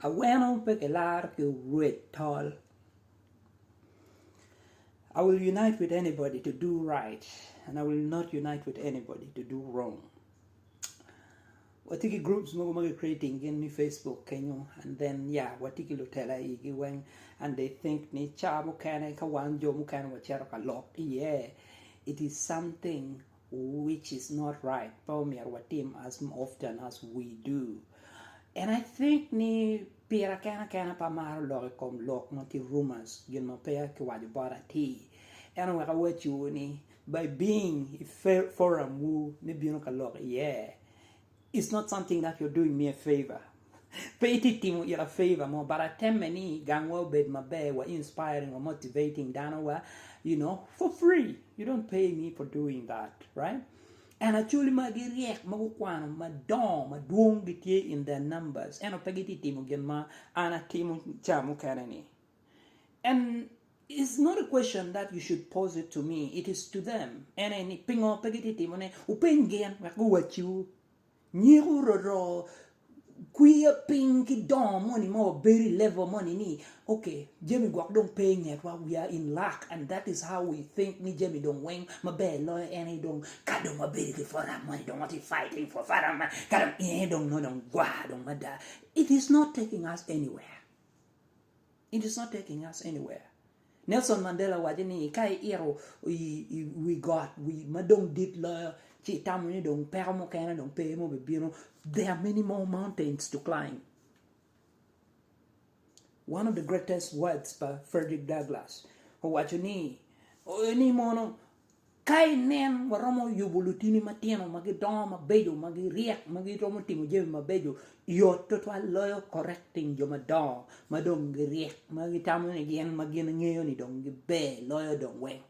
Aweno pe kilaro ki rwed tol. I will unite with anybody to do right and I will not unite with anybody to do wrong. Watye ki groups mogo ma ki creating gin ni Facebook kenyo and then ya watye ki lutela igi weng and they think ni ca mukene ka wan jo mukene wacito ka lok iye it is something which is not right pe omyero watim as often as we do and I think ni pira kena kena pe amaro lok i kom lok ma tye rumors gin ma peya ki waco bot atir ento wek awacci wu ni by being i forum wu ni bino ka lok iye It's not something that you're doing me a favour. Pe itye timo ita favour mo but atemme ni gangwa obed maber wa inspiring wa motivating dano wa you know for free. You don't pay me for doing that right? And acholi magi ryek ma gukwano madongo madwong gitye in their numbers ento pe gitye timo gin ma an atimo ca mukene ni. And it's not a question that you should pose it to me, it is to them. En aye ni pingo pe gitye timo ne? Wupeny gin wek guwacciwu. Nyiku roro kwiyo piny ki dongo moni ma wabedo i level moni ni okay jami gwok dong pe ingetwa we are in luck and that is how we think ni jami dong weng maber loyo en aye dong ka dong wabedo ki forum moni dong watye fighting for forum man ka dong en aye dong nongo dong gwa dong mada it is not taking us anywhere. It is not taking us anywhere. Nelson Mandela owaco ni ka iito i wi got wi ma dong dit loyo ci itamo ni dong peko mukene dong pe ma obibino, there are many more mountains to climb. One of the greatest words pa Frederick Douglass owaco ni ni mono Ka inen waromo yubo lutini matino ma gidongo mabeco, ma giryek, ma giromo timo jami mabeco, yot twatwal loyo correcting jo madongo ma dong giryek, ma gitamo ni gin ma gin ngeyo ni dong giber loyo dong weng.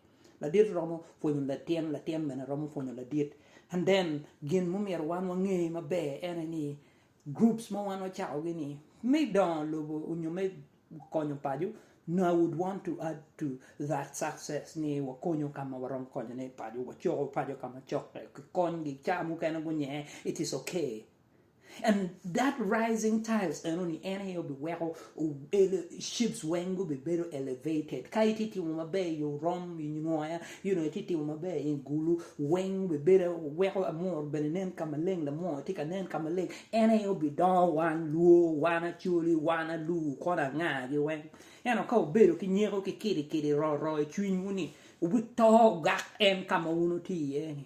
Ladit romo pwonyo latin, latin bene romo pwonyo ladit. And then gin ma omyero wan wange maber ene ni Groups ma wan wacako gi ni me dongo lobo onyo me konyo paco no I would want to add to that success ni wakonyo ka ma waromo konyo ne paco wacoko paco ka ma cok tek ki kony gi ca mukene gunye it is okay and that rising tiles eno ni en aye obi weko Ships weng gubibedo elevated. Ka itye timo maber i orom, i nyoya, you know, itye timo maber i gulu, weng bibedo, weko amuru bene nen ka maleng, lamuru tye ka nen ka maleng. En aye obidongo wan Luo, wan Acholi, wan Aluo, kona anga gi weng. Ento ka wubedo ki nyeko ki kidi kidi, ro ro i cwinywu ni, wubito ogak en ka ma wun wutye iye ni.